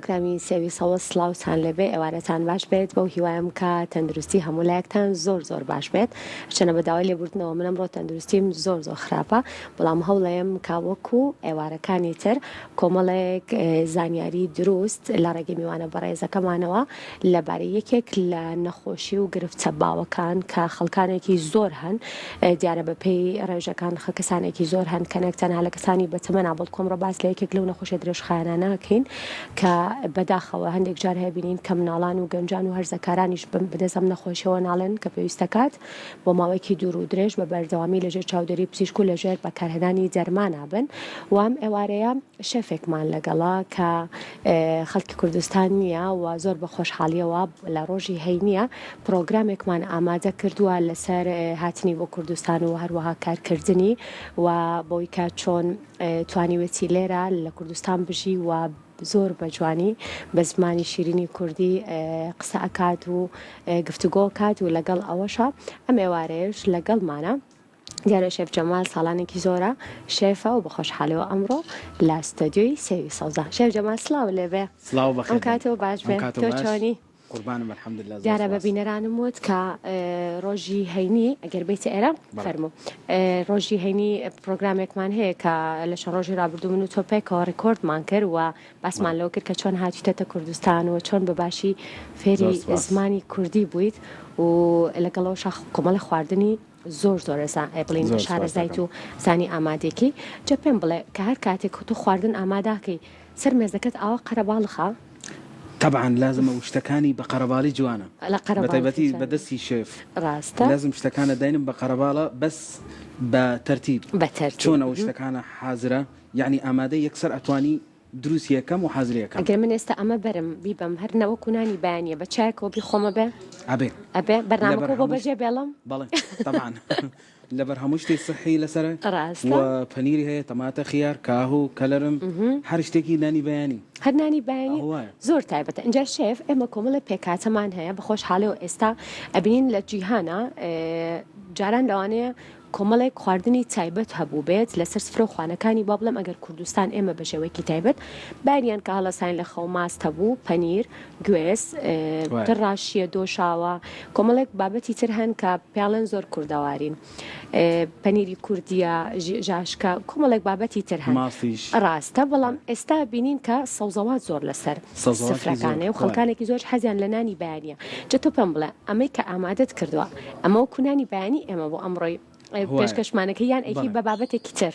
کامی سێوی سەوز سڵاوتان لێبێ ئێوارەتان باش بێت بەو هیوایەم کە تەندروستی هەموو لایەکتان زۆر زۆر باش بێت هەرچەنە بە داوای لێبوردنەوە من ئەمڕۆ تەندروستیم زۆر زۆر خراپە بەڵام هەوڵەیەم کە وەکو ئێوارەکانی تر کۆمەڵێک زانیاری دروست لە ڕێگەی میوانە بەڕێزەکەمانەوە لەبارەی یەکێک لە نەخۆشی و گرفتە باوەکان کە خەڵکانێکی زۆر هەن، دیارە بەپێی ڕێژەکان خە کەسانێکی زۆر هەن کە نەک تەنها لە کەسانی بەتەمەنا بەڵکو ئەمڕۆ باس لە یەکێک لەو نەخۆشە درێژخایەنانە ئەکەین کە بەداخەوە هەندێک جار هەیە بینین کە مناڵان و گەنجان و هەرزەکارانیش بن بەدەست ئەم نەخۆشیەوە ناڵێن کە پێویستەکات بۆ ماوەیەکی دوور و درێژ بە بەردەوامی لەژێر چاودێری پزیشک و لەژێر بەکارهێنانی دەرمانا بن و ئەم ئێوارەیە شێفێکمان لەگەڵە کە خەڵکی کوردستان نییە و زۆر بە خۆشحاڵییەوە لە ڕۆژی هەینییە پڕۆگرامێکمان ئامادە کردووە لەسەر هاتنی بۆ کوردستان و هەروەها کارکردنی و بۆی کە چۆن توانیوێتی لێرە لە کوردستان بژی و زۆر بە جوانی بە زمانی شیرینی کوردی قسە ئەکات و گفتوگۆ کات و لەگەڵ ئەوەشە ئەم ئێوارەیەش لەگەڵمانە دیارە شێف جەمال ساڵانێکی زۆرە شێفە و بەخۆشحالیەوە ئەمڕۆ لە ستۆدیۆی سێوی سەوزە شێف جەمال سڵاو لێبێ سڵاو بەخێر ئەم کاتەوە باش بێ تۆ چۆنی قوربانم الحمد لله دیارە بە بینەرانم وت کە ڕۆژی هەینی ئەگەر بیتە ئێرە فەرمو ڕۆژی هەینی پرۆگرامێکمان هەیە کە لە چەند ڕۆژی رابردوو من و تۆ پێکەوە ڕکۆردمان کرد و باسمان لەوە کرد کە چۆن هاتیتەتە کوردستان و چۆن بە باشی فێری زمانی کوردی بوویت و لەگەڵەوە شاخ کۆمەڵە خواردنی زۆر زۆر ئێسا ئەی بڵین زۆر شارەزایت سوپاستان. و زانی ئامادێکی جا پێم بڵێ کە هەر کاتێک تۆ خواردن ئاماداکەی سەر مێزەکەت ئاوا قەرەباڵخە تەبعەن لازمە و شتەکانی بە قەرەباڵی جوانە لە قەرەباڵخی بەتایبەتی جوانە. بە دەستی شێف ڕاستە لازم شتەکانت داینم بە قەرەباڵە بەس بە تەرتیب بە تەرتیب چۆن ئەو مهم. شتەکانە حازرە یانی ئامادەی یەکسەر ئەتوانی دروس یەکەم و حەزر یەکەم. گەر من ئێستا ئەمە بەرم بیبەم هەر نەوەک و نانی بەیانیە بە چایەکەوە بیخۆمە بێ؟ ئەبێ. ئەبێ؟ بەرنامەکەو بۆ بەجێ بێڵم؟ بەڵێ تەبعەن لەبەر هەموو شتی سیحی لەسەرە ڕاستە؟ و پەنیری هەیە تەماتە خیار کاهو کەلەرم هەر شتێکی نانی بەیانی. هەر نانی بەیانی؟ ئەوە وایە. زۆر تایبەتە ئینجا شێف ئێمە کۆمەڵێ پێکهاتەمان هەیە بە خۆشحالیەوە ئێستا ئەبینین لە جیهانا جاران لەوانەیە کۆمەڵێک خواردنی تایبەت هەبووبێت لەسەر سفرەو خوانەکانی با بڵێم ئەگەر کوردستان ئێمە بەشێوەیەکی تایبەت بایریان کە هەڵەساین لە خەو ماست هەبوو پەنیر گوێز ڕاشیە دۆشاوە کۆمەڵێک بابەتی تر هەن کە پیاڵێن زۆر کوردەوارین پەنیری کوردیە ژاشکە کۆمەڵێک بابەتی تر هەن ڕاستە بەڵام ئێستا بینین کە سەوزەوات زۆر لەسەر سفرەکانێ و خەڵکانێکی زۆر حەزیان لە نانی بەیانە جە تۆ پێم بڵێ ئەمەی کە ئامادەت کردووە ئەمە وەکو نانی بەیانی ئێمە بۆ ئەمڕۆی پێشکەشمانەکە یان ئەیکەی بە بابەتێکی تر؟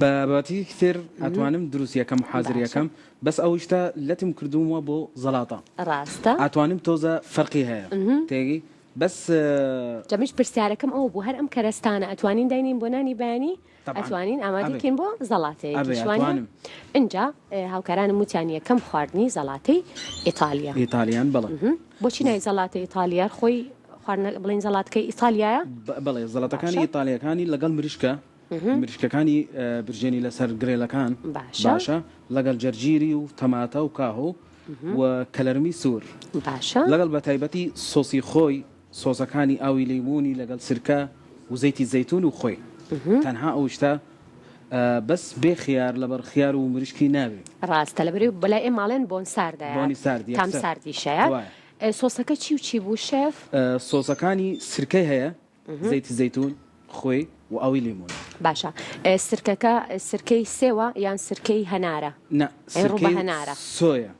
بە بابەتێکی تر ئەتوانم دروستی ئەکەم و حازری ئەکەم، بەس ئەو شتە لەتم کردوومە بۆ زەڵاتە. ڕاستە. ئەتوانم تۆزە فەرقی هەیە. تێگەی؟ بەس. جا منیش پرسیارەکەم ئەوە بوو هەر ئەم کەرەستانە ئەتوانین داینێین بۆ نانی بەیانی؟ ئەتوانین ئامادە بکەین بۆ زەڵاتەیەکی شوانە ئینجا هاوکارانم وتیان یەکەم خواردنی زەڵاتەی ئیتالیا ئیتالیان بڵێ بۆچی نای زەڵاتە ئیتالیار خۆی بڵین زەڵاتکە ئیتالیایە بڵێ زەڵاتەکانی ئیتالیەکانی لەگەڵ مریشکە مریشکەکانی برژێنی لەسەر گرێلەکان باشە لەگەڵ جەرجیری و تەماتە و کاهۆ و کەلەرمی سوور باشە لەگەڵ بە تایبەتی سۆسی خۆی سۆزەکانی ئاوی لەیموونی لەگەڵ سرکە و زەیتی زەیتون و خۆی تەنها ئەو شتە بەس بێ خیار لەبەر خیار و مریشکی نابێ. ڕاستە لەبەرەی بەلای ئێمە ئەڵێن بۆن ساردە بۆنی سارد یەک تام ساردیشەیە وایە. سۆسەکە چی و چی بوو شێف؟ سۆسەکانی سرکەی هەیە زەیتی زەیتون خۆی و ئاوی لەیموون. باشە سرکەکە سرکەی سێوە یان سرکەی هەنارە؟ نا سرکەی سۆیە.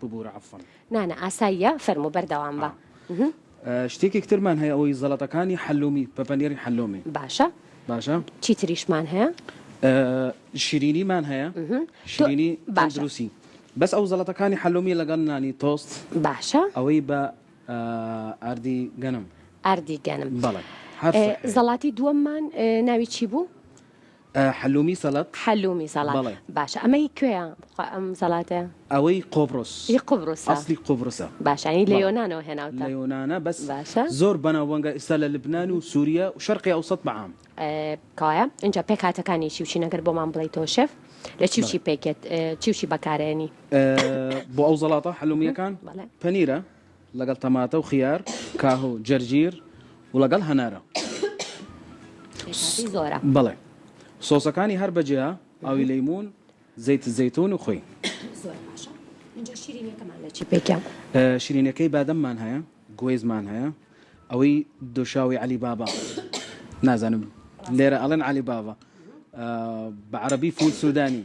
ببورە عەفوەن. نا نا ئاساییە فەرموو بەردەوام بە. شتێکێک ترمان هەیە ئەوەی زەڵەتەکانی حەلومی بە پەنێری حەلومی. باشە باشە چی تریشمان هەیە؟ شیرینیمان هەیە شیرینی تەندروسی بەس ئەو زەڵەتەکانی حەلومی لەگەڵ نانی تۆست باشە ئەوەی بە ئاردی گەنم ئاردی گەنم بەڵێ زەڵاتی دووەممان ناوی چی بوو؟ حلومی سەڵەت؟ حلومی سەڵات بەڵێ. باشە ئەمە هی کوێیە خۆ ئەم سەڵاتە؟ ئەوەی قۆبڕس. هی قوبرسە. ئەسڵی قوبرسە. باشە یانی لە یۆنانەوە هێناوتە. لە یۆنانە بەس باشە. زۆر بەناوبانگە ئیستا لە لبنان و سوریا و شەرقی ئەوسەت بە عام. کەوایە ئینجا پێکهاتەکانی چی و چین ئەگەر بۆمان بڵێیتەوە شێف لە چی و چی پێکێت چی و چی بەکارێنی؟ بۆ ئەو زەڵاتە حلومیەکان؟ بەڵێ. پەنیرە لەگەڵ تەماتە و خیار کاهو جەرجیر و لەگەڵ هەنارە. بەڵێ سۆسەکانی هەر بە جیا ئاوی لەیمون زەیت زەیتون و خوی. شیرینەکەی بادەممان هەیە گویزمان هەیە ئەوەی دۆشاوی عەلی بابا نازانم لێرە ئەڵێن عەلی بابا بە عەرەبی فول سودانی.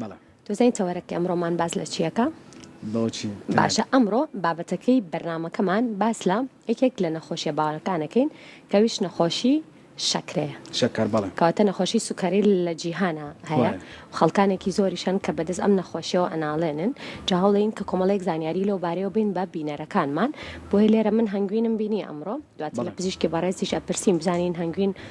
بەڵێ. دەزانی تەوەرەکەی ئەمڕۆمان باس لە چیەکە؟ بۆچی؟ باشە ئەمڕۆ بابەتەکەی بەرنمەکەمان باس لە یەکێک لە نەخۆشیە باوەکانەکەین کەویش نەخۆشی شەکرەیە شەکر بەڵێ کەواتە نەخۆشی سوکەری لە جیهانە هەیە خەڵکانێکی زۆریشان کە بەدەست ئەم نەخۆشیەوە ئەناڵێنن جا هەوڵین کە کۆمەڵێک زانیاری لەو بارەیەوە بین بە بینەرەکانمان بۆیە لێرە من هەنگوینم بینی ئەمڕۆ دواتر لە پزیشکی بەڕێزیش ئەپرسین بزانین هەنگوین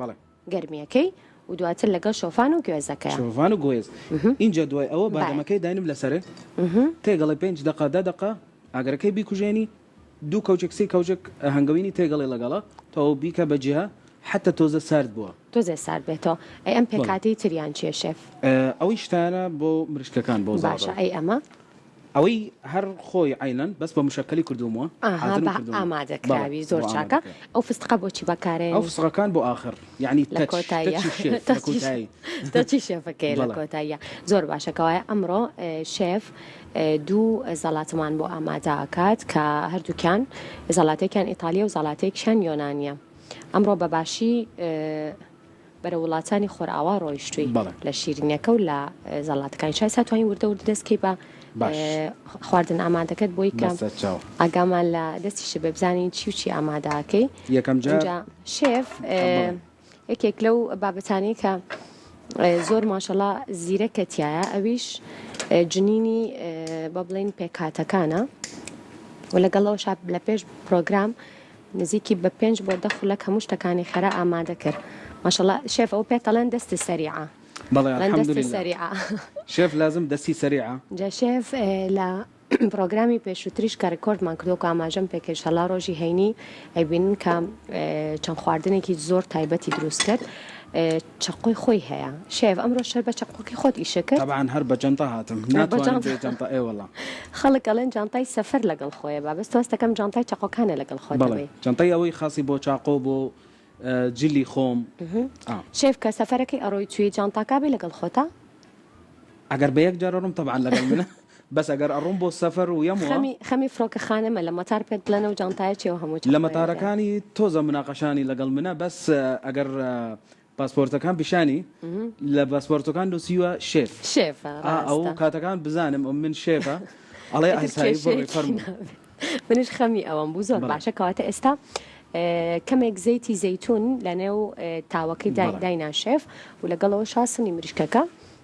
بەڵێ. گەرمیەکەی و دواتر لەگەڵ شۆفان و گوێزەکەیا. شۆڤان و گوێز ئینجا دوای ئەوە بادەمەکەی داینم لەسەرێ تێگەڵێ پێنج دەقە دە دەقە ئاگەرەکەی بیکوژێنی دوو کەوچک سی کەوچک هەنگەوینی تێگەڵێ ڵەگەڵە تەواو بیکە بە جیا حەتە تۆزە سارد بووە. تۆزێ سارد بێتەوە ئەی ئەم پێکهاتەی تریان چیە شێف؟ ئەوەی شتانە بۆ مریشکەکان بۆ زاڕ. باشە ئەی ئەمە؟ ئەوەی هەر خۆی عەینەن بەس بە مشەکەلی کردووموە ئاها بە ئامادەکراوی زۆر چاکە ئەو فستقە بۆچی بەکارێن ئەو فستقەکان بۆ ئاخر یعنی لە کۆتایی تەچی شێفەکەی لە کۆتاییە زۆر باشە کەوایە ئەمڕۆ شێف دوو زەڵاتمان بۆ ئامادا ئەکات کە هەردووکیان زەڵاتێکیان ئیتالیا و زەڵاتێکیان یۆنانیە ئەمڕۆ بەباشی بەرەو وڵاتانی خۆرئاوا ڕۆیشتووی بەڵێ. لە شیرینەکە و لە زەڵاتەکانی چای سا توانی وردە وردە دەست کەی بە باش. خواردن ئامادەکەت بۆی کە بەسە چاو. ئاگامان لە دەستیشت بێ بزانین چی و چی ئامادە ئەکەی یەکەم جار ئینجا شێف بڵێ. یەکێک لەو بابەتانەی کە زۆر ماشەڵا زیرەکە تیایە ئەویش جنینی با بڵێین پێکهاتەکانە و لەگەڵ ئەوەشا لە پێش پڕۆگرام نزیکی بە پێنج بۆ دە خولەک هەموو شتەکانی خێرا ئامادە کرد ماشاءاللە شێف ئەوە پێت ئەڵێن دەست سەریعە بەڵێ ئەڵێن دەست الحمدللە سەریعە شێف لازم دەستی سەریعە. جا شێف لە پڕۆگرامی پێشووتریش کە ڕیکۆردمان کردووە کە ئاماژەم پێ کرد ئینشاڵڵا ڕۆژی هەینی ئەیبینن کە چەند خواردنێکی زۆر تایبەتی دروست کرد چەقۆی خۆی هەیە شێف ئەمڕۆ شەر بە چەقۆکی خۆت ئیشە کرد؟ تەبعەن هەر بە جەنتە هاتم ناتوانم بێ جەنتە ئێ وەڵا خەڵک ئەڵێن جانتای سەفەر لەگەڵ خۆیە با بەس تۆ هەستەکەم جانتای چەقۆکانە لەگەڵ خۆت بەڵێ دەبەی. جەنتەی ئەوەی خاسی بۆ چاقۆ بۆ جلی خۆم ئا. شێف کە سەفەرەکەی ئەڕۆی چوی جانتاکا بێ لەگەڵ خۆتە؟ ئەگەر بە یەک جار ئەڕۆم تەبعەن لەگەڵ منە. بەس ئەگەر ئەڕۆم بۆ سەفەر و یەم وە. خەمی فڕۆکە خانەمە لە مەتار پێت بڵێن ئەو جانتایە چیە و هەموو چەقۆیە لە. لە مەتارەکانی تۆزە مناقەشانی لەگەڵ منە بەس ئەگەر پاسپۆرتەکان پیشانی لە باسپۆرتەکان نوسیوە شێف شێف ڕاستە ئەو کاتەکان بزانم ئەو من شێفە ئەڵێ ئاسایی بڕۆی کێشەیەکی فەرموو نابێت. منیش خەمی ئەوەم بوو زۆر بەڵێ. باشە کەواتە ئێستا ئێ، کەمێک زەیتی زەیتون لەنێو ئێ تاوەکەی دای بەڵێ. داینا شێف و لەگەڵ ئەوەشا سنی مریشکەکە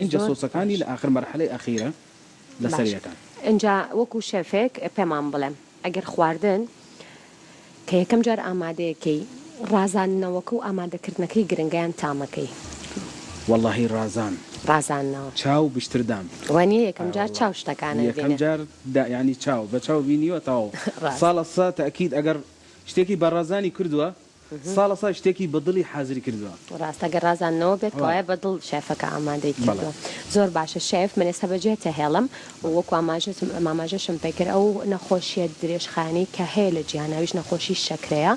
ئینجا زۆر سۆسەکانی باش. لە ئاخر مەرحەلەی ئەخیرە لە باش سەریەکان. ئینجا وەکو شێفێک پێمان بڵێ ئەگەر خواردن کە یەکەم جار ئامادەیەکەی ڕازاندنەوەکە و ئامادەکردنەکەی گرنگە یان تامەکەی؟ وەڵاهی ڕازان ڕازاندنەوە چاو بشتردان وانیە یەکەم جار چاو شتەکانت یەکەم بینێ. جار دا یانی چاو بە چاو بینیوە تەواو ڕاست. ساڵە سە تەئکید ئەگەر شتێکی بە ڕازانی کردوە ساڵە سای شتێکی بە دڵی حازری کردوە. ڕاستە گەر ڕازاندنەوە بێت کەوایە بە دڵ شێفەکە ئامادەی کردوە. زۆر باشە شێف من ئێستا بەجێت تەهێڵم و وەکو ئاماژەتم ئاماژەشم پێ کرد ئەو نەخۆشیە درێژخایەنەی کە هەیە لە جیهان ئەویش نەخۆشی شەکرەیە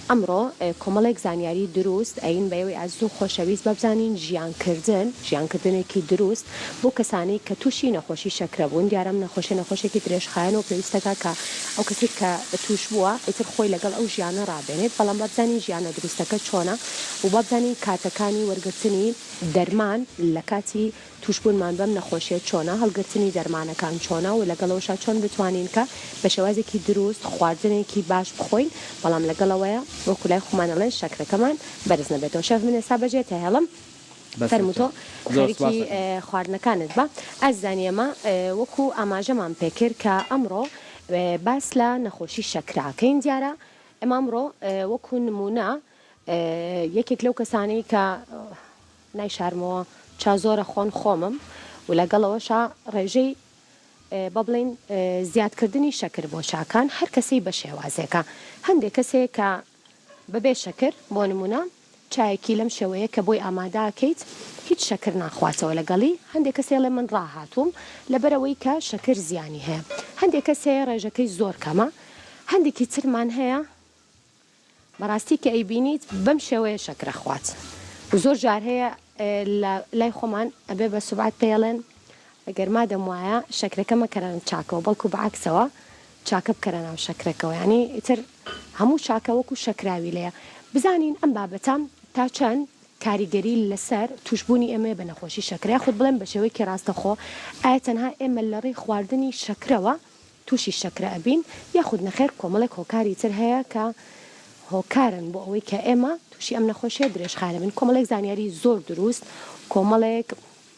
ئەمڕۆ کۆمەڵێک زانیاری دروست ئەیین بەوەی ئەزوو خۆشەویست بەبزانین ژیان کردن ژیان کردنێکی دروست بۆ کەسانەی کە تووشی نەخۆشی شەکرە بوون دیارە ئەم نەخۆشیە نەخۆشێکی درێژخایەنە و پێویستەکە کە ئەو کەسەی کە تووش بووە ئیتر خۆی لەگەڵ ئەو ژیانە ڕابێنێت بەڵام با بزانین ژیانە دروستەکە چۆنە و با بزانین کاتەکانی وەرگرتنی دەرمان لە کاتی تووشبوونمان بەم نەخۆشیە چۆنە هەڵگرتنی دەرمانەکان چۆنە و لەگەڵ ئەوەشا چۆن بتوانین کە بە شێوازێکی دروست خواردنێکی باش بخۆین بەڵام لەگەڵ ئەوەیا وەکو لای خۆمان ئەڵێن شەکرەکەمان بەرز نەبێتەوە شێف من ئێستا بەجێت ئەهێڵم فەرموو تۆ خەریکی خواردنەکانت بە ئەز زانی ئەمە وەکو ئاماژەمان پێکرد کە ئەمڕۆ باس لە نەخۆشی شەکرەکەین دیارە ئەمە ئەمڕۆ وەکو نمونە یەکێک لەو کەسانەی کە نای شارمەوە چا زۆرە خۆن خۆمم و لەگەڵەوەشا ڕێژەی بە بڵین زیادکردنی شەکر بۆ چاکان هەر کەسەی بە شێوازێکە هەندێک کەسێک کە بەبێ شەکر، بۆ نموونە چایەکی لەم شێوەیە کە بۆی ئامادە ئەکەیت هیچ شەکر ناخواتەوە لەگەڵی، هەندێک کەس ئێڵێ من ڕاهاتووم لەبەرئەوەی کە شەکر زیانی هەیە، هەندێک کەس هەیە ڕێژەکەی زۆر کەمە، هەندێکی ترمان هەیە بەڕاستی کە ئەیبینیت بەم شێوەیە شەکر ئەخوات و زۆر جار هەیە لە لای خۆمان ئەبێ بە سوبعەت پێیڵێن گەر مادەم وایە شەکرەکە مەکەرە چاکەوە بەڵکو بەعەکسەوە چاکە بکەرە ناو شەکرەکەوە یانی ئیتر هەموو چاکە وەکو شەکراوی لێ بزانین ئەم بابەتە تا چەند کاریگەری لەسەر توشبوونی ئێمەی بە نەخۆشی شەکرە یاخود بڵێم بە شێوەیەکی ڕاستەخۆ ئایا تەنها ئێمە لە ڕێی خواردنی شەکرەوە توشی شەکرە ئەبین یاخود نەخێر کۆمەڵێک هۆکاری تر هەیە کە هۆکارن بۆ ئەوەی کە ئێمە توشی ئەم نەخۆشیە درێژخایەنە بین کۆمەڵێک زانیاری زۆر دروست کۆمەڵێک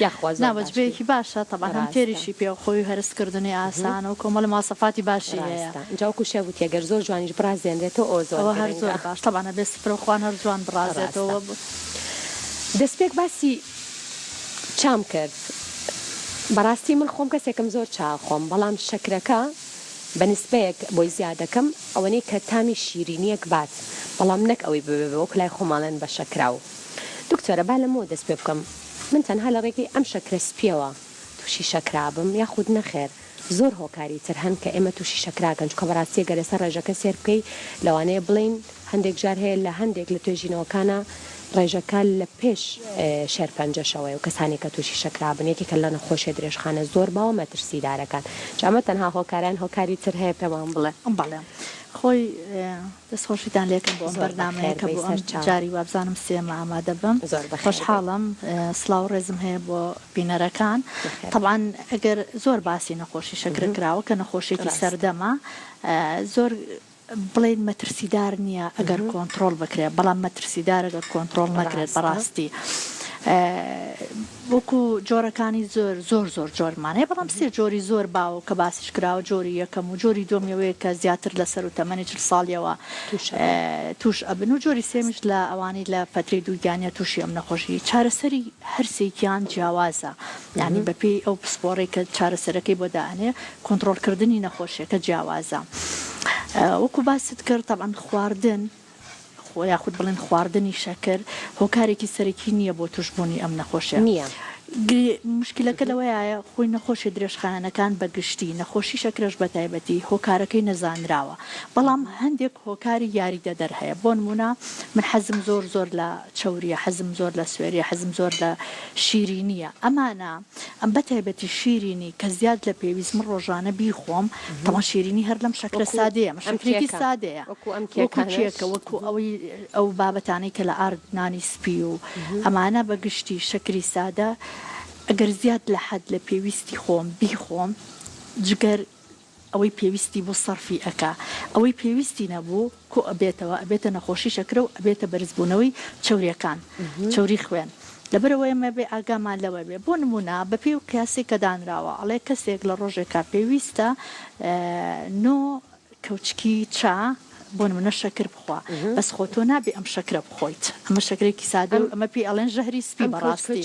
یاخوا زۆر باش بوو. نا وەجبەیەکی باشە تەبعەن هەم تێریشی پێ و خۆی و هەرس کردنی ئاسانە و کۆمەڵی مواصفاتی باشی هەیە. ڕاستە ئینجا وەکو شێخ گوتی گەر زۆر جوانیش بڕازێنرێتەوە ئەوە زۆر گرنگە. ئەوە هەر زۆر باش تەبعەن ئەبێ سفرە و خوان هەر جوان بڕازێتەوە. ڕاستە دەسپێک باسی چام کرد بەڕاستی من خۆم کەسێکم زۆر چا ئەخۆم بەڵام شەکرەکە بە نسبەیەک بۆی زیاد ئەکەم ئەوەنەی کە تامی شیرینیەک بات بەڵام نەک ئەوەی ببێ وەکو لای خۆمان ئەڵێن بە شەکراو. دکتۆرە با لەمەوە دەست پێ بکەم من تەنها لە ڕێگەی ئەم شەکرە سپیەوە توشی شەکرا بم یاخود نەخێر زۆر هۆکاری تر هەن کە ئێمە توشی شەکراکەن چونکە بەڕاستی گەر لەسەر ڕێژەکە سێر بکەی لەوانەیە بڵێین هەندێک جار هەیە لە هەندێک لە توێژینەوەکانا ڕێژەکە لە پێش شێرپەنجەشەوەیە و کەسانی کە توشی شەکرا بن یەکێکە لە نەخۆشیە درێژخانە زۆر باوە مەترسیدارەکان جا ئەمە تەنها هۆکارە یان هۆکاری تر هەیە پێمان بڵێ. بەڵێ خۆی دەست خۆشیتان لێکەم بۆ ئەم بەرنامەیە کە بۆ ئەم جاری وابزانم سێیەمە ئامادە بم خۆشحاڵم سڵاو ڕێزم هەیە بۆ بینەرەکان تەبعەن ئەگەر زۆر باسی نەخۆشی شەکرە کراوە کە نەخۆشیێکی سەردەمە زۆر بڵێن مەترسیدار نییە ئەگەر کۆنتترۆل بکرێت بەڵام مەترسیدار ئەگەر کۆنتترۆل نەکرێت بەڕاستی وەکو جۆرەکانی زۆر زۆر زۆر جۆرمان هەیە بەڵام سێ جۆری زۆر باوە کە باسیش کراوە جۆری یەکەم و جۆری دووەم یەوەیە کە زیاتر لە سەرو تەمەنی چل ساڵیەوە توش ئەبن و جۆری سێمیش لە ئەوانەی لە فەترەی دووگیانیە توشی ئەم نەخۆشی چارەسەری هەر سێکیان جیاوازە یانی بە پێی ئەو پسپۆڕەی کە چارەسەرەکەی بۆ دا ئەنێ کۆنتڕۆڵ کردنی نەخۆشیەکە جیاوازە وەکو باست کرد تەبعەن خواردن یاخود بڵێن خواردنی شەکر هۆکارێکی سەرەکی نییە بۆ توشبوونی ئەم نەخۆشە؟ نییە. مشکلەکە لەوەیایە خۆی نەخۆشیە درێژخایەنەکان بە گشتی، نەخۆشی شەکرەش بە تایبەتی هۆکارەکەی نەزانراوە، بەڵام هەندێک هۆکاری یاریدەدەر هەیە، بۆ نموونە من حەزم زۆر زۆر لە چەورییە، حەزم زۆر لە سوێرییە، حەزم زۆر لە شیرینییە، ئەمانە. ئەم بە تایبەتی شیرینی کە زیاد لە پێویست من ڕۆژانە بیخۆم تەوان شیرینی هەر لەم شەکرە سادەیە مە شەکرێکی سادەیە کێکە وەکو ئەوەی ئەو بابەتانەی کە لە ئارد نانی سپی و ئەمانە بە گشتی شەکری سادە ئەگەر زیاد لە حەد لە پێویستی خۆم بیخۆم جگەر ئەوەی پێویستی بوو سەرفی ئەکا ئەوەی پێویستی نەبوو کۆ ئەبێتەوە ئەبێتە نەخۆشی شەکرە و ئەبێتە بەرزبوونەوەی چەوریەکان چەوری خوێن لەبەرئەوەی ئێمە بێ ئاگامان لەوە بێ بۆ نموونە بەپێی ئەو قیاسەی کە دانراوە ئەڵێ کەسێک لە ڕۆژێکا پێویستە نۆ کەوچکی چا بۆ نمونە شەکر بخوا بەس خۆ تۆ نابێ ئەم شەکرە بخۆیت ئەمە شەکرێکی سادەیە و ئەمە پێی ئەڵێن ژەهری سپی بەڕاستی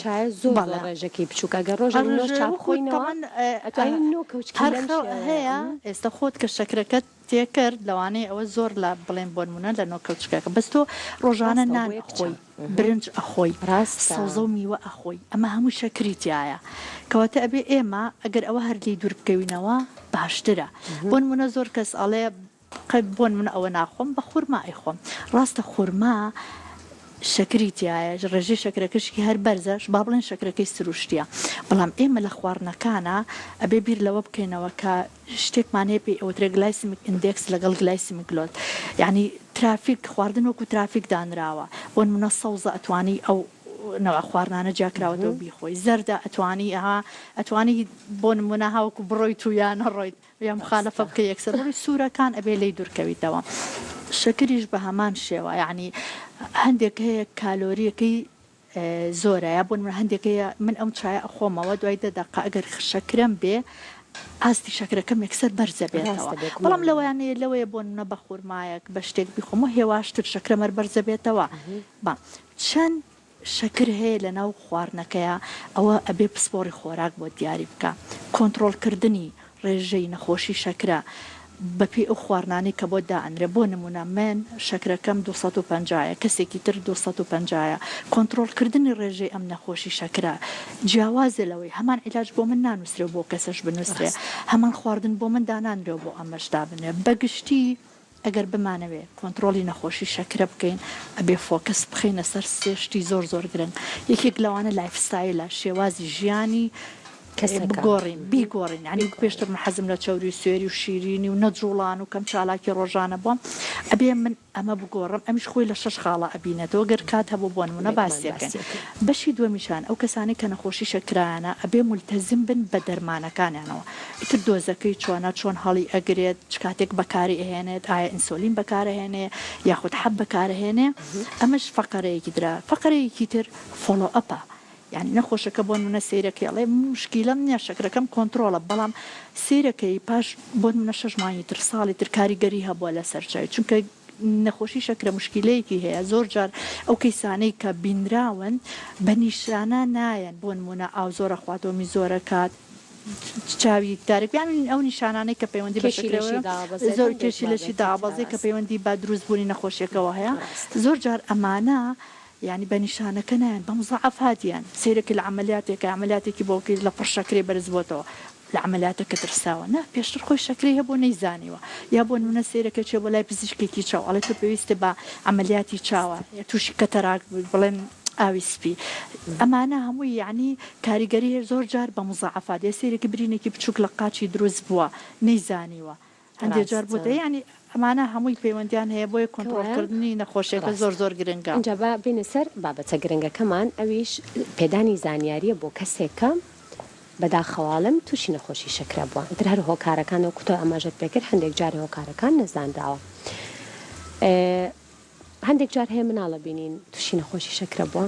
بەڵێ هەیە ئێستا خۆت کە شەکرەکەت تێکرد لەوانەیە ئەوە زۆر لە بڵێن بۆ نمونە لە نۆ کەوچکەکە بەس تۆ ڕۆژانە نان ئەخۆی برنج ئەخۆی ڕاست سەوزە و میوە ئەخۆی ئەمە هەمووی شەکری تیایە کەواتە ئەبێ ئێمە ئەگەر ئەوە هەر لێی دوور بکەوینەوە باشترە بۆ نمونە زۆر کەس ئەڵێ قەت بۆن من ئەوە ناخۆم بە خورما ئەیخۆم ڕاستە خورما شەکری تیایە ڕێژەی شەکرەکەشکی هەر بەرزە با بڵێن شەکرەکەی سروشتیە بەڵام ئێمە لە خواردنەکانە ئەبێ بیر لەوە بکەینەوە کە شتێکمان هەیە پێی ئەوترێ گلایسمیک ئیندێکس لەگەڵ گلایسمیک گلۆد یعنی ترافیک خواردن وەکو ترافیک دانراوە بۆ نمونە سەوزە ئەتوانی ئەو نەوە خواردنانە جیا کراوەتەوە بیخۆی زەردە ئەتوانی ئەها ئەتوانی بۆ نمونە هاوکو بڕۆیت و یا نەڕۆیت یا موخالەفە بکەی یەکسەر بڕۆی سورەکان ئەبێ لێی دورکەویتەوە شەکریش بەهەمان شێوە یاعنی هەندێک هەیە کالۆریەکەی زۆرە یا بۆن من هەندێک هەیە من ئەم چای ئەخۆمەوە دوای دە دەقا ئەگەر خشەکرم بێ ئاستی شەکرەکەم یەکسەر بەرزە بێتەوە بەڵام لەوەیانەیە لەوەیە بۆن منە بە خورمایەک بە شتێک بخۆمە هێواشتر شەکرەمەر بەرزە بێتەوە بە چەند شەکر هەیە لەناو خواردنەکەیا ئەوە ئەبێ پسپۆڕی خۆراک بۆت دیاری بکا کۆنتڕۆڵ کردنی ڕێژەی نەخۆشی شەکرە بەپێی ئەو خواردنانەی کە بۆت دائەنرێ بۆ نموونە من شەکرەکەم دوو سەد و پەنجا یە کەسێکی تر دوو سەد و پەنجا یە کۆنتڕۆڵ کردنی ڕێژەی ئەم نەخۆشی شەکرە جیاوازە لەوەی هەمان عیلاج بۆ من نانووسرێ و بۆ کەسەش بنووسرێ هەمان خواردن بۆ من دانانرێ و بۆ ئەمەش دابنرێ بەگشتی ئەگەر بمانەوێ کۆنتڕۆڵی نەخۆشی شەکرە بکەین ئەبێ فۆکەس بخەینە سەر سێ شتی زۆر زۆر گرنگ یەکێک لەوانە لایف ستایلە شێوازی ژیانی کەسەکە بگۆڕین بیگۆڕین یانی وەک پێشتر من حەزم لە چەوری و سوێری و شیرینی و نەجوڵان و کەم چالاکی ڕۆژانە بووم ئەبێ من ئەمە بگۆڕم ئەمیش خۆی لە شەش خاڵە ئەبینێتەوە گەر کات هەبوو بۆ نموونە باسیەکەن بەشی دووەمیشان ئەو کەسانەی کە نەخۆشی شەکرایانە ئەبێ مولتەزم بن بە دەرمانەکانیانەوە ئیتر دۆزەکەی چۆنە چۆن هەڵی ئەگرێت چ کاتێک بەکاری ئەهێنێت ئایا ئینسۆلین بەکار ئەهێنێ یاخود حەب بەکار ئەهێنێ ئەمەش فەقەرەیەکی درا فەقەرەیەکی تر فۆڵۆ ئەپە یانی نەخۆشەکە بۆ نمونە سەیرەکەی ئەڵێ موشکیلەم نیە شەکرەکەم کۆنتڕۆڵە بەڵام سەیرەکەی پاش بۆ نمونە شەش مانگی تر ساڵی تر کاریگەری هەبوە لەسەر چاوی چونکە نەخۆشی شەکرە مشکیلەیەکی هەیە زۆر جار ئەو کەیسانەی کە بینراون بە نیشانە نایەن بۆ نموونە ئاو زۆر ئەخوات وەمی زۆر ئەکات چاوی تارک یانی ئەو نیشانانەی کە پەیوەندی بە کێشی لەشی شەکرەوە دابەزێت زۆر هەندێک کێشی لەشی مادەی دابەزێ کە کارەستی پەیوەندی بە دروستبوونی نەخۆشیەکەوە هەیە ڕاستە زۆر جار ئەمانە یانی بە نیشانەکە نایەن بە مزاعەفات دیان سەیرە کە لە عەمەلیاتێکە عەمەلیاتێکی بۆکەی لە پڕ شەکرەی بەرز بۆتەوە لە عەمەلیاتەکە ترساوە نا پێشتر خۆی شەکرەی هەبوو نەیزانیوە یا بۆ نمونە سەیرە کە چێ بۆ لای پزیشکێکی چاو ئەڵێ تۆ پێویستە بە عەمەلیاتی چاوە یا تووشی کەتەراک بووی بڵێن ئاوی سپی ئەمانە هەمووی یعنی کاریگەری هەیە زۆر جار بە مزاعەفات یا سەیرە کە برینێکی بچووک لە قاچی دروست بووە نەیزانیوە هەندێ جار بۆ دە یانی ئەمانە هەمووی پەیوەندیان هەیە بۆیە کۆنتڕۆڵ کردنی نەخۆشیەکە زۆر زۆر گرنگە. ئینجا با بێینە سەر بابەتە گرنگەکەمان ئەویش پێدانی زانیاریە بۆ کەسێک کە بەداخەواڵێم توشی نەخۆشی شەکرە بوە ئیتر هەر هۆکارەکان وەکو تۆ ئاماژەت پێکرد هەندێک جار هۆکارەکان نەزانراوە هەندێک جار هەیە مناڵ ئەبینین توشی نەخۆشی شەکرە بووە،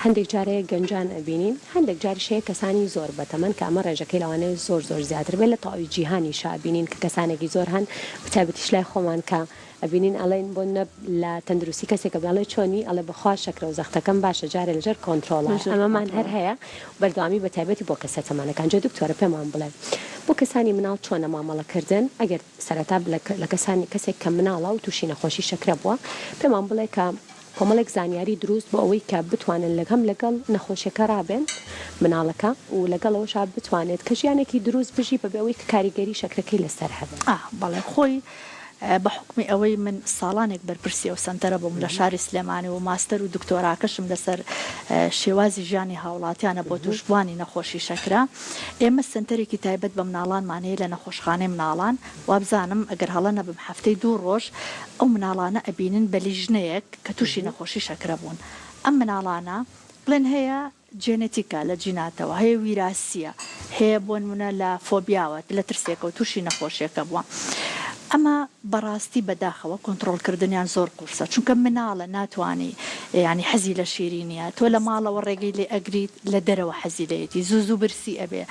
هەندێک جار هەیە گەنجان ئەبینین، هەندێک جاریش هەیە کەسانی زۆر بەتەمەن کە ئەمە ڕێژەکەی لەوانەیە زۆر زۆر زیاتر بێت لە تەواوی جیهانیشا ئەبینین کە کەسانێکی زۆر هەن بەتایبەتیش لای خۆمان کە ئەبینین ئەڵێن بۆ نەب لە تەندروستی کەسێک ئەبێ ئەڵێ چۆنی ئەڵێ بەخوا شەکرە و زەختەکەم باشە جارێ لەژێر کۆنتڕۆڵە ئەمەمان هەر هەیە بەردەوامی بەتایبەتی بۆ کەسە تەمەنەکان جا دکتۆرە پێمان بڵێ بۆ کەسانی مناڵ چۆنە مامەڵەکردن ئەگەر سەرەتا لە کەسانی کەسێک کە مناڵە و تووشی نەخۆشی شەکرە بووە پێمان بڵێ کە کۆمەڵێک زانیاری دروست بۆ ئەوەی کە بتوانن لە هەم لەگەڵ نەخۆشیەکە ڕابێن مناڵەکە و لەگەڵ ئەوەشا بتوانێت کە ژیانێکی دروست بژی بەبێ ئەوەی کە کاریگەری شەکرەکەی لەسەر هەبێت. ئا بەڵێ خۆی بە حوکمی ئەوەی من ساڵانێک بەرپرسی ئەو سەنتەرە بووم لە شاری سلێمانی و ماستەر و دکتۆراکەشم لەسەر شێوازی ژیانی هاوڵاتیانە بۆ تووشبووانی نەخۆشی شەکرە، ئێمە سەنتەرێکی تایبەت بە مناڵانمان هەیە لە نەخۆشخانەی مناڵان وابزانم ئەگەر هەڵە نەبم هەفتەی دوو ڕۆژ ئەو مناڵانە ئەبینن بە لیژنەیەک کە تووشی نەخۆشی شەکرە بوون ئەم مناڵانە بڵێن هەیە جێنێتیکە لە جیناتەوە هەیە ویراسیە هەیە بۆنمونە لە فۆبیاوە لە ترسێکەوە تووشی نەخۆشیەکە بووە ئەمە بەڕاستی بەداخەوە کۆنتڕۆڵ کردنیان زۆر قورسە چونکە مناڵە ناتوانی یانی حەزی لە شیرینیە تۆ لە ماڵەوە ڕێگەی لێ ئەگریت لە دەرەوە حەزی لێیەتی زوو زوو برسی ئەبێ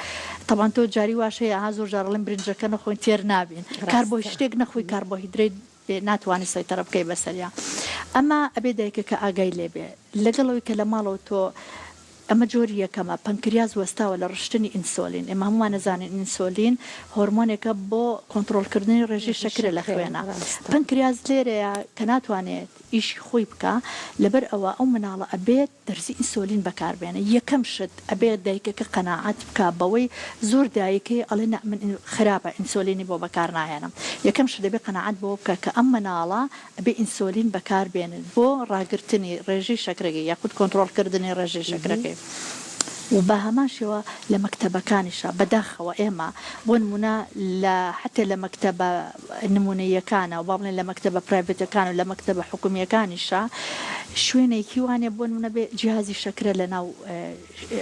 تەبان تۆ جاری واش هەیە ها زۆر جارڵێن برنجەکە نەخۆین تێر نابین کار بۆی شتێک نەخۆی کار بۆ هیدرێت بێ ناتوانانی سەیتەرە بکەی بەسەریا ئەمە ئەبێ دایکەکە ئاگای لێبێ لەگەڵەوەی کە لە ماڵەوە تۆ ئەمە جۆری یەکەمە پەنکریاز وەستاوە لە ڕشتنی ئینسۆلین ئێمە هەمووان نەزانین ئینسۆلین هۆرمۆنێکە بۆ کۆنتترۆلکردنی ڕێژی شەکرە لە خوێنە پەنکریاز لێرەیە کە ناتوانێت ئیشی خۆی بکە لەبەر ئەوە ئەو مناڵە ئەبێت دەرزی ئینسۆلین بەکار بێنە یەکەم شت ئەبێ دایکەکە قەناعەت بکا بەوەی زۆر دایکەی ئەڵێ نا من خراپە ئینسۆلینی بۆ بەکار ناهێنم یەکەم شت دەبێ قەناعەت بەوە بکا کە ئەم مناڵە ئەبێ ئینسۆلین بەکار بێنێت بۆ ڕاگرتنی ڕێژەی شەکرەگەی یاخود کۆنتڕۆڵ کردنی ڕێژەی شەکرەکەی و بە هەمان شێوە لە مەکتەبەکانیشا بەداخەوە ئێمە بۆ نموونە لە حەتێ لە مەکتەبە نموونەییەکانە و با بڵێین لە مەکتەبە پرایڤەتەکان و لە مەکتەبە حکومییەکانیشە شوێنێکی وانە بۆ نموونە بێ جیهازی شەکرە لە ناو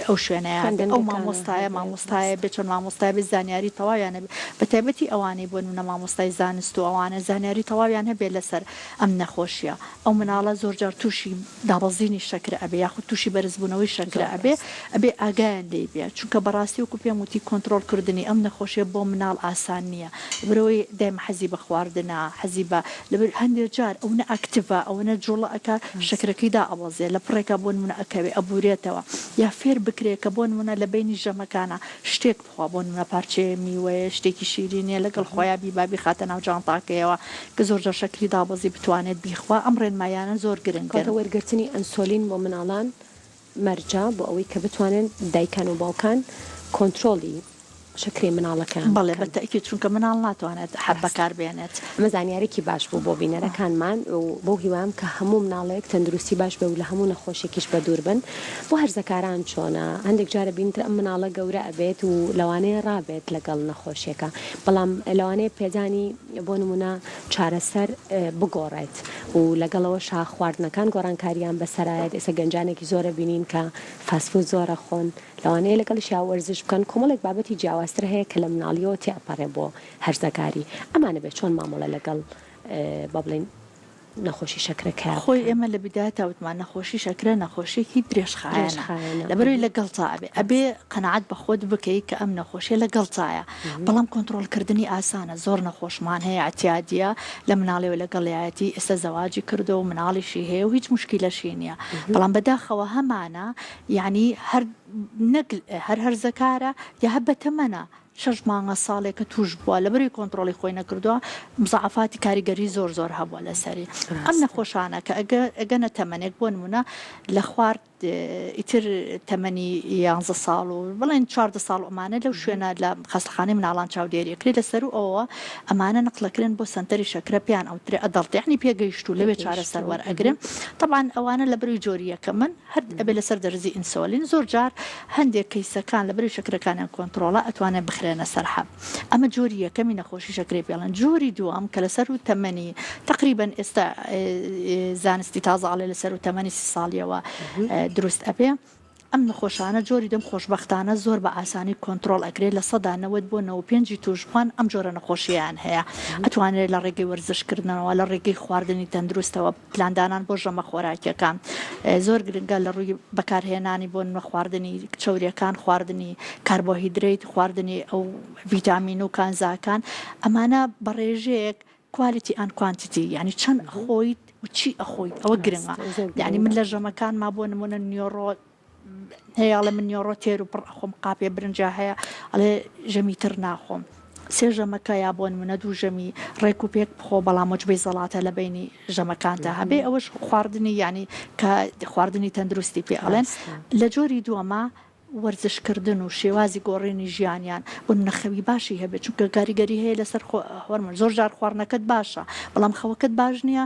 ئەو شوێنەیە بێ ئەو مامۆستایە مامۆستایە بێ چۆن مامۆستای بێ زانیاری تەواویان هەبێ بە تایبەتی ئەوانەی بۆ نموونە مامۆستای زانست و ئەوانە زانیاری تەواویان هەبێ لەسەر ئەم نەخۆشییە ئەو مناڵە زۆر جار توشی دابەزینی شەکرە ئەبێ یاخود توشی بەرز بونەوەی شەکرە ئەبێ ئەبێ ئاگایان لێی بێ چونکە بەڕاستی وەکو پێم وتی کۆنترۆڵ کردنی ئەم نەخۆشیە بۆ مناڵ ئاسان نیە لەبەرئەوەی دایمە حەزی بە خواردنە حەزی بە لەبەر هەندێ جار ئەونە ئەکتڤە ئەوەنە جوڵە ئەکا شەکرەکەی دا ئەبەزێ لە پڕێکا بۆنمونە ئەکەوێ ئەبورێتەوە یا فێر بکرێ کە بۆنمونە لە بەینی ژەمەکانا شتێک خوا بۆ نمونە پارچەیە میوەیە شتێکی شیرینە لەگەڵ خۆیا بیبا بیخاتە ناو جانتاکەیەوە کە زۆر جار شەکری دابەزی بتوانێت بیخوا ئەم ڕێنماییانە زۆر گرنگن. کەواتە وەرگرتنی ئەنسۆلین بۆ مناڵان مەرجە بۆ ئەوەی کە بتوانن دایکان و باوکان کۆنترۆڵی شەکرەی مناڵەکەیان بکەن. بەڵێ بە تەئکید چونکە مناڵ ناتوانێت حەب بەکاربێنێت. ئەمە زانیارێکی باش بوو بۆ بینەرەکانمان و بەو هیوام کە هەموو مناڵێک تەندروستی باش بێ و لە هەموو نەخۆشێکیش بە دوور بن بۆ هەرزەکاران چۆنە هەندێک جارە بینتر ئەم مناڵە گەورە ئەبێت و لەوانەیە ڕابێت لەگەڵ نەخۆشیەکە بەڵام لەوانەیە پێدانی بۆ نمونە چارەسەر بگۆڕێت و لەگەڵەوە شا خواردنەکان گۆڕانکاریان بەسەرایەت ئێستا گەنجانێکی زۆرە بینین کە فاسفود زۆرە خۆن لەوانەیە لەگەڵ شیاوەرزش بکەن کۆمەڵێک بابەتی جیاوازتر هەیە کە لە مناڵیەوە تێپەڕێ بۆ هەرزەکاری ئەمانە بێت چۆن مامەڵە لەگەڵ با بڵێین نەخۆشی شەکرە کە خۆی ئێمە لە بدایەتە وتمان نەخۆشی شەکرە نەخۆشیێکی درێژخایەنە لەبەروی لە گەڵتا ئەبێ ئەبێ قەنەعات بە خۆت بکەیت کە ئەم نەخۆشیە لە گەڵتایە بەڵام کۆنتترۆلکردنی ئاسانە زۆر نەخۆشمان هەیە ئەتیادە لە مناڵەوە لە گەڵایەتی ئێستا زەواجی کردو و مناڵیشی هەیە و هیچ مشکیلەشی نییە بەڵام بەداخەوە هەمانە یعنی هەر نەک هەر هەرزەکارە یا هە بەتەمەە شەش مانگە ساڵێکە توش بوە لەبەروی کۆنترۆڵی خۆی نەکردوە مزەعەفاتی کاریگەری زۆر زۆر هەبوە لەسەری ئەم نەخۆشانە کە ئەگەنە تەمەنێک بۆ نمونە لە خوارد ئیتر تەمەنی یانزە ساڵ و بڵێن چواردە ساڵ ئەمانە لەو شوێنە لە خەستخانەی مناڵان چاودێریەکری لە سەر و ئەوە ئەمانە نقلەکرن بۆ سنتەری شەکرە پێیان ئەوترێ ئەدەڵتیانی پێگەیشت و لەوێ چارەسەر وەرئەگرن طبعا ئەوانە لە بەروی جۆریەکە من هەرد ئەبێ لەسەر دەرزی ئینسۆلین زۆر جار هەندێک کەیسەکان لەبەری شەکرەکانیان کۆنتڕۆڵە ئەتوانێ بخرێنە سەر حەب ئەمە جۆری یەکەمی نەخۆشی شەکرەی پێڵەن جۆری دووەم کە لەسەر و تەمەنی تقریبەن ئێستا زانستی تازەڵێ لەسەر و تەمەنی سی ساڵیەوە دروست ئەبێ ئەم نەخۆشانە جۆری دەم خۆشببختانە زۆر بە ئاسانی کۆنتترۆل ئەکرێت لە سەدا نەوەت بۆ نەوە پێنجی توشبووان ئەم جۆرە نەخۆشییان هەیە ئەتوانرێت لە ڕێگەی وەرزشکردنەوە لە ڕێگەی خواردنی تەندروستەوە پلاندانان بۆ ژەمە خۆراکیەکان زۆر گرنگە لە ڕووی بەکارهێنانی بۆ نمە خواردنی چەوریەکان خواردنی کاربۆهیدریت خواردنی ئەو ڤیتامین و کانزاکان ئەمانە بەڕێژەیەک کوالیتی ئەن کوانتیتی یعنی چەند خۆیت و چی ئەخۆیت ئەوە گرنگە یعنی من لە ژەمەکان ما بۆ نمونە نیۆڕۆ هەیە ئەڵێ من نیۆڕۆ تێر و پڕ ئەخۆم قاپێ برنجا هەیە ئەڵێ ژەمی تر ناخۆم سێ ژەمەکە یا بۆن منە دوو ژەمی ڕێک و پێک بخۆ بەڵام مجبەی زەڵاتە لە بینی ژەمەکاندا هەبێ ئەوەش خواردنی ینی کە خواردنی تەندروستی پێ ئەڵێن لە جۆری دووەمە وەرزشکردن و شێوازی گۆڕێنی ژیانیان بۆ نەخەوی باشی هەبێت چونکە کاریگەری هەیە لەسەر هۆرمۆن زۆر جار خواردنەکەت باشە بەڵام خەوەکەت باش نییە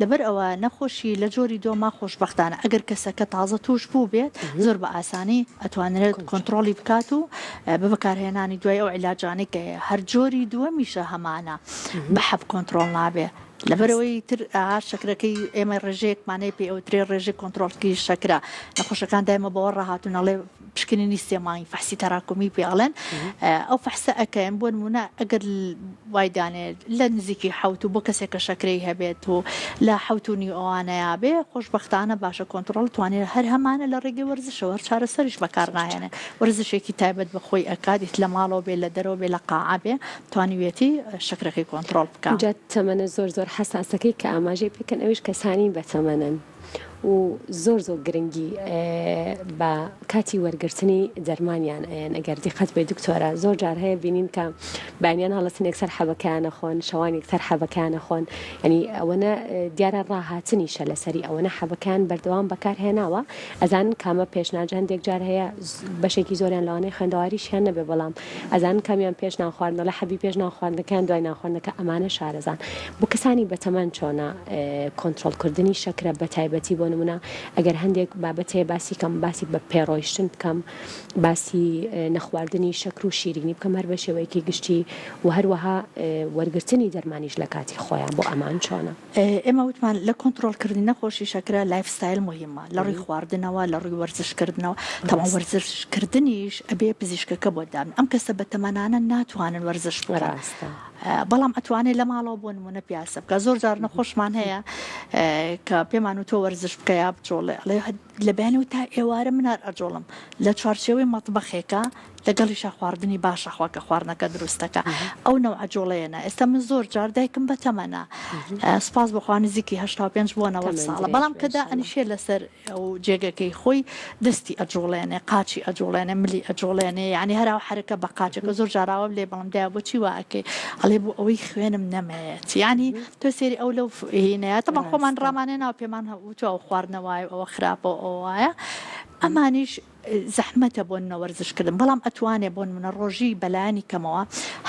لەبەر ئەوە نەخۆشی لە جۆری دۆما خۆشبەختانە ئەگەر کەسەکە تازە تووش بوو بێت زۆر بە ئاسانی ئەتوانرێت کۆنتڕۆڵی بکات و بە بەکارهێنانی دوای ئەو عیلاجانەی کە هەیە هەر جۆری دووەمیشە هەمانە بە حەب کۆنتڕۆڵ نابێ لەبەرئەوەی تر ئەها شەکرەکەی ئێمە ڕێژەیەکمانەیە پێی ئەوترێ ڕێژەی کۆنتڕۆڵکری شەکرە نەخۆشەکان دایمە بەوە ڕاهاتوون ئەڵێ پشکنینی سێ مانگی فەحسی تەراکمی پێ ئەڵێن ئەو فەحسە ئەکەن بۆ نمونە ئەگەر وای دانێت لە نزیکی حوت و بۆ کەسێک کە شەکرەی هەبێت و لە حوت و نیوانەیە بێ خۆشببختانە باشە کۆنتترۆل توانێت هەر هەمانە لە ڕێگەی وەرزشەوە چارەسەریش بەکار ناهێنێ وەرزشێکی تایبەت بە خۆی ئەکاتیت لە ماڵەوە بێ لە دەرەوە بێ لە قاعابێ توانیوێتی شەکرەکەی کۆنتترۆل بکە تەمەە زۆر زۆر حساسەکەی کە ئاماژەی پێکەن ئەوش کەسانی بەتەمەنن. و زۆر زۆر گرنگی بە کاتی وەرگرتنی دەرمانیان ئەیەن ئەگەر دیقەت بێ دکتۆرە زۆر جار هەیە بینین کە بەیانیان هەڵەتن یەکسەر حەبەکەیانە خۆن شەوان یەکسەر حەبەکەیانە خۆن ینی ئەوەنە دیارە ڕاهاتنیشە لەسەری ئەوەنە حەبەکان بەردەوام بەکارهێناوە ئەزان کامە پێشناجە هەندێک جار هەیە بەشێکی زۆریان لەوانەیە خوێندەواریشیان نەبێ بەڵام ئەزانن کامیان پێش نان خواردنە لە حەبی پێش نان خواردنەکە یان دوای نان خواردنەکە ئەمانە شارەزان بۆ کەسانی بەتەمەن چۆنە کۆنترۆڵ کردنی شەکرە بە تایبەتی بۆ نمونە ئەگەر هەندێک بابەت هەیە باسی کەم باسی بە پێڕۆیشتن بکەم باسی نەخواردنی شەکر و شیرینی بکەم هەر بە شێوەیەکی گشتی و هەروەها وەرگرتنی دەرمانیش لە کاتی خۆیان بۆ ئەمان چۆنە ئێمە وتمان لە کۆنترۆڵ کردنی نەخۆشی شەکرە لایف ستایل مهمە لە ڕووی خواردنەوە لە ڕووی وەرزشکردنەوە تەواو وەرزشکردنیش ئەبێ پزیشکەکە بۆ دابن ئەم کەسە بە تەمەنانە ناتوانن وەرزش بکەن بەڵام ئەتوانێت لە ماڵەوە بۆ نمونە پیاسە بکە زۆر جار نەخۆشمان هەیە کە پێمان و تۆ وەرزش بکەیا بچۆڵێ ئەڵێ لە بەیانیو تا ئێوارە من هەر ئەجوڵم لە چوارچێوەی مەتبەخێکا لەگەڵیشا خواردنی باشە خوا کە خواردنەکە دروستەکا ئەو نەوعە جوڵەیەنا ئێستا من زۆر جار دایکم بە تەمەنا سپاس بۆ خوا نزیکی هەشتا و پێنج بۆ نەوەد ساڵە بەڵام کە دائەنیشێ لەسەر ئەو جێگەکەی خۆی دەستی ئەجوڵێنێ قاچی ئەجوڵێنێ ملی ئەجوڵێنێ یانی هەر ئەو حەرەکە بە قاچەکە زۆر جار ئاوام لێ بەڵام دایە بۆچی وا ئەکەی ئەڵێ بۆ ئەوەی خوێنم نەمەیەت یانی تۆ سێری ئەو لەو هینەیە تەبا خۆمان ڕامانێ ناو پێمان هەوتو ئەو خواردنە وایە ئەوە خراپە ئەو وایە ئەمانیش زەحمەتە بۆن نەوەرزشکردن بەڵام ئەتوانێ بۆن منە ڕۆژی بەلایانی کەمەوە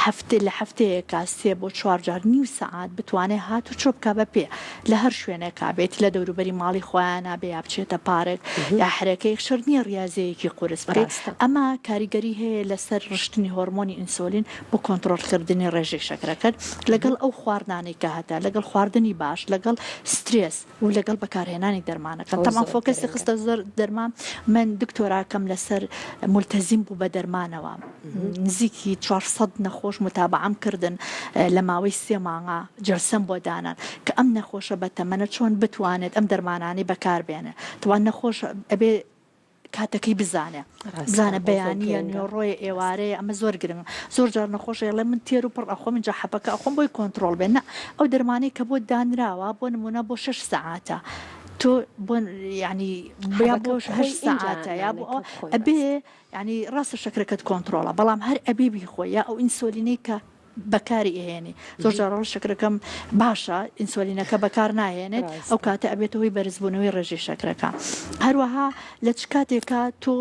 هەفتێ لە هەفتەیەکە سێ بۆ چوارجار نیو سەعات بتوانێ هات و چۆپکە بە پێ لە هەر شوێنێکا بێت لە دەوروبەری ماڵی خۆیانە بێ یا بچێتە پارێک یا حرەکەی شەر نییە ڕاضەیەکی قورس بکەیت ئەمە کاریگەری هەیە لەسەر ڕشتنی هۆرمۆنی ئینسۆلین بۆ کۆنتڕۆڵ کردنی ڕێژەی شەکرەکەت لەگەڵ ئەو خواردنانەی کە هەتە لەگەڵ خواردنی باش لەگەڵ سترێس و لەگەڵ بەکارهێنانی دەرمانەکە تەمان فۆکەسی خستە زۆر دەرمان من دکتۆراکەم لەسەر ملتەزیم بوو بە دەرمانەوە نزیکی 400 نەخۆش متابعام کردن لە ماوەی سێ مانگا جلسەم بۆ دانان کە ئەم نەخۆشە بە تەمەنە چۆن بتوانێت ئەم دەرمانانی بەکاربێنێت توان نەخۆش ئەبێ کاتەکەی بزانێ بزانە بەیانیە نوێڕۆیە ئێوارەیە ئەمە زۆر گرنگ زۆر جار نەخۆشە ئەڵێ من تێر و پڕ ئەخۆم جا حەپەکە ئەخۆم بۆی کۆنتترۆڵ بێن ئەو دەرمانەی کە بۆ دانراوە بۆ نمونە بۆ شش سەعاتە تۆ بۆ ینی بیا بۆ هەش سەعاتە یا بۆ ئەبێ ینی ڕاستە شەکرەکەت کۆنتترۆڵە بەڵام هەر ئەبێ بیخۆ یا ئەو ئینسۆلینەی کە بەکاری ئەهێنی زۆر جار ڕۆژ شەکرەکەم باشە ئینسۆلینەکە بەکار ناهێنێت ئەو کاتە ئەبێت هۆی بەرزبوونەوەی ڕێژی شەکرەکە هەروەها لە چ کاتێکا تۆ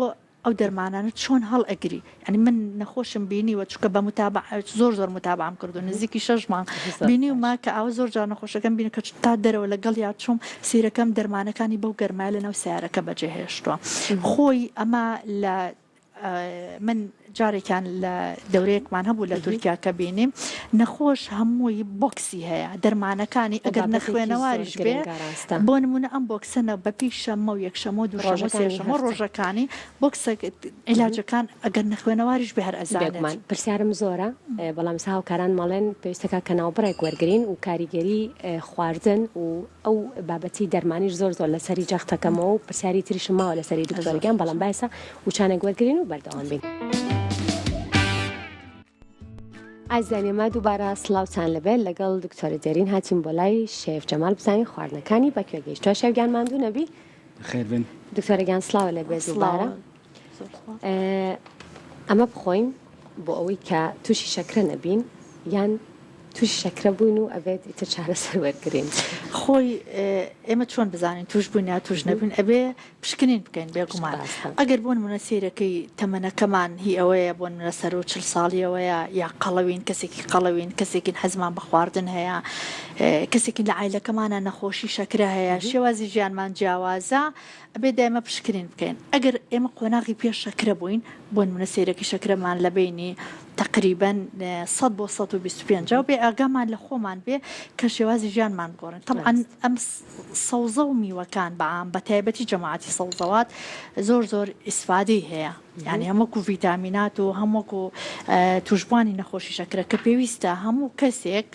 ئەو دەرمانانە چۆن هەڵ ئەگری ئەنی من نەخۆشم بینی وە چکە بە متابع زۆر زۆر متابام کردو نزیکی شش مانگ بینی و ما کە ئەو زۆر جار نەخۆشەکەم بینی کە تا دەرەوە لەگەڵ یا چوم سیرەکەم دەرمانەکانی بەو گەرمای لە ناو سیارەکە بەجێهێشتووە خۆی ئەمە لە من جارێکیان لە دەورەیەکمان هەبوو لە تورکیا کە بینیم نەخۆش هەمووی بۆکسی هەیە دەرمانەکانی ئەگەر نەخوێنەواریش بێ بۆ نمونە ئەم بۆکسەنە بەپی شەمە و یەکشەمە و دوژەمە سێشەمە ڕۆژەکانی بۆکسە عیلاجەکان ئەگەر نەخوێنەواریش بێ هەر ئەزانمان پرسیارم زۆرە بەڵام ساوکاران مەڵێن پێویستەکە کە ناوبڕێک وەرگین و کاریگەری خواردن و ئەو بابەتی دەرمانیش زۆر زۆر لەسەری جەخت ئەکەمەوە و پرسیاری تریشم ماوە لەسەری دکتۆر گیان بەڵام بایسە وچانێک وەرگرین و بەردەوام بین. ئازیزانی ما دووبارە سلااوان لەبێت لەگەڵ دکتۆرە دێرین هاتیم بۆ لای شێف جەمال بزانین خواردنەکانی بەکوێگەیش توێشەویان ماندوو نەبی خێربن دکتۆرەگەیان سلااو لە بێزوبارە ئەمە بخۆین بۆ ئەوەی کە تووشی شەکرە نەبین یان توش شەکرە بووین و ئەبێت ئیتر چارەسەر وەرگین خۆی ئێمە چۆن بزانین توش بووین یا توش نەبوون ئەبێ پشکنین بکەین بێگومان ئەگەر بۆن منە سیرەکەی تەمەنەکەمان هی ئەوەیە بۆن منە سەر و چل ساڵیەوەیە یا قەڵەوین کەسێکی قەڵەوین کەسێکین حەزمان بە خواردن هەیە کەسێکین لە عیلەکەمانە نەخۆشی شەکرە هەیە شێوازی ژیانمان جیاوازە ئەبێ دایمە پشکنین بکەین ئەگەر ئێمە قۆناغی پێش شەکرە بووین بۆ نمونە سیرەکی شەکرەمان لە بینی تقریبن 100 بۆ 125 و بێ ئاگامان لە خۆمان بێ کە شێوازی ژیانمان بگۆڕن طبعا ئەم سەوزە و میوەکان بەعام بە تایبەتی جەماعاتی سەوزەوات زۆر زۆر ئیسفادەی هەیە یعنی هەمووکو ڤیتامینات و هەمووکو توشببووانی نەخۆشی شەکرە کە پێویستە هەموو کەسێک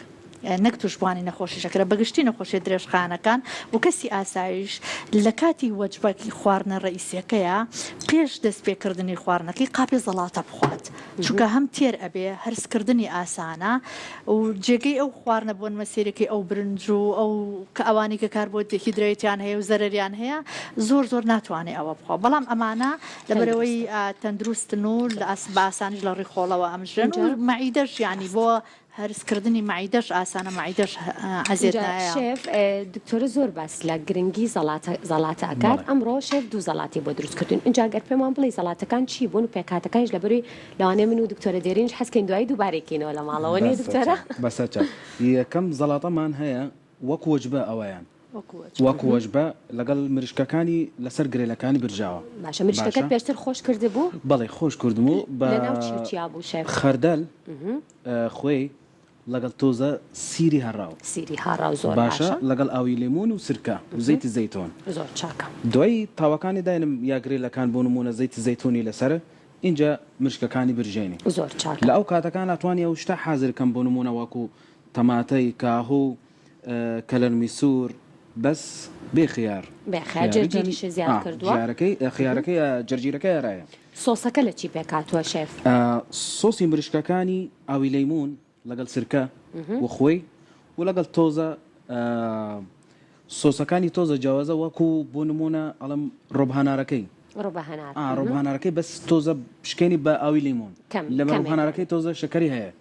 نەک توشبوانی نەخۆشی شەکرە بەگشتی نەخۆشیە درێژخایەنەکان و کەسی ئاسایش لەکاتی وەجبەکی خواردنە ڕئیسیەکەیا پێش دەست پێ کردنی خواردنەکەی قاپێ زەڵاتە بخوات چونکە هەم تێر ئەبێ هەرس کردنی ئاسانە و جێگەی ئەو خواردنە بۆن مەسیرەکەی ئەو برنج و ئەو کە ئەوانی کە کار بۆ دێهیدرەیتیان هەیە و زەرەریان هەیە زۆر زۆر ناتوانێ ئەوە بخوا بەڵام ئەمانە لەبەرەوەی تەندروستن و بە ئاسانیش لە ڕیخۆڵەوە ئەمژرێن و مەعیدەش یانی بۆ هەرس کردنی مەعیدەش ئاسانە مەعیدەش عەزێت ئینجا نایە. شێف ئێ دکتۆرە زۆر باس لە گرنگی زەڵاتە زەڵاتە ئەکات بەڵێ. ئەمڕۆ شێف دوو زەڵاتی بۆ دروست کردووین ئینجا گەر پێمان بڵێی زەڵاتەکان چی بوون و پێکهاتەکانیش لەبەروی لەوانەیە من و دکتۆرە دێرینیش حەز کەین دوایی دووبارەی کەینەوە لە ماڵەوە نیە بەسە دکتۆرە؟ چاو بەسە چاو یەکەم زەڵاتەمان هەیە وەک وەجبە ئەوەیان. وەک وەجبە لەگەڵ مریشکەکانی لەسەر گرێلەکانی برژاوە. باشە مریشکەکەت پێشتر خۆش کردبوو؟ بەڵێ خۆش کردم و بە خەردەل خوێی لەگەڵ تۆزە سیری هەڕاو. سیری هاڕاو زۆر باشە. باشە لەگەڵ ئاوی لێمون و سرکە و زەیتی زەیتون. زۆر چاکە. دوای تاوەکانی داینم یا گرێلەکان بۆ نموونە زەیتی زەیتونی لەسەر ئینجا مریشکەکانی برژێنی. زۆر چاکە. لە ئەو کاتەکانا توانی ئەو شتە حازر کەم بۆ نموونە وەکوو تەماتەی کاهو کەلەرمی سور بەس بێ خیار. بێ خیار جەرجیریشی زیاد کردوە. خیارەکەی جەرجیرەکەی ئەرایە. سۆسەکە لە چی پێک هاتوە شێف؟ سۆسی مریشکەکانی ئاوی لەیمون لەگەڵ سرکە و خۆی و لەگەڵ تۆزە سۆسەکانی تۆزە جیاوازە وەکو بۆ نمونە ئەڵێم ڕۆبهانارەکەی ڕۆبهانارەکەی بەس تۆزە بشکێنی بە ئاوی لەیمون لەبەر ڕۆبهانارەکەی تۆزە شەکەری هەیە.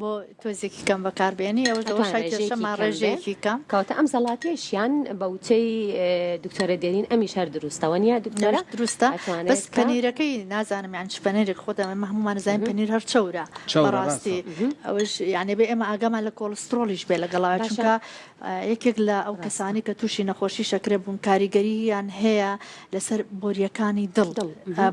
بۆ تۆزێکی کەم بەکاربێنی ئەوەش لەوە شای کێشە ماڕێژەیەکی کەم کەوتە ئەم زەڵاتێشیان بە وچەی دکتۆرە دێرین ئەمی شار دروستەوە نیە دکتۆرە دروستە بەس پەنیرەکەی نازانم یان پەنێرێک خۆدا ئەمە هەمومان زانین پەنیر هەر چەورە بەڕاستی ئەوش یانێ بێ ئێمە ئاگامان لە کۆڵسترۆڵیش بێ لەگەڵا چونکە یەکێک لە ئەو کەسانی کە تووشی نەخۆشی شەکرە بوون کاریگەریان هەیە لەسەر بۆریەکانی دڵ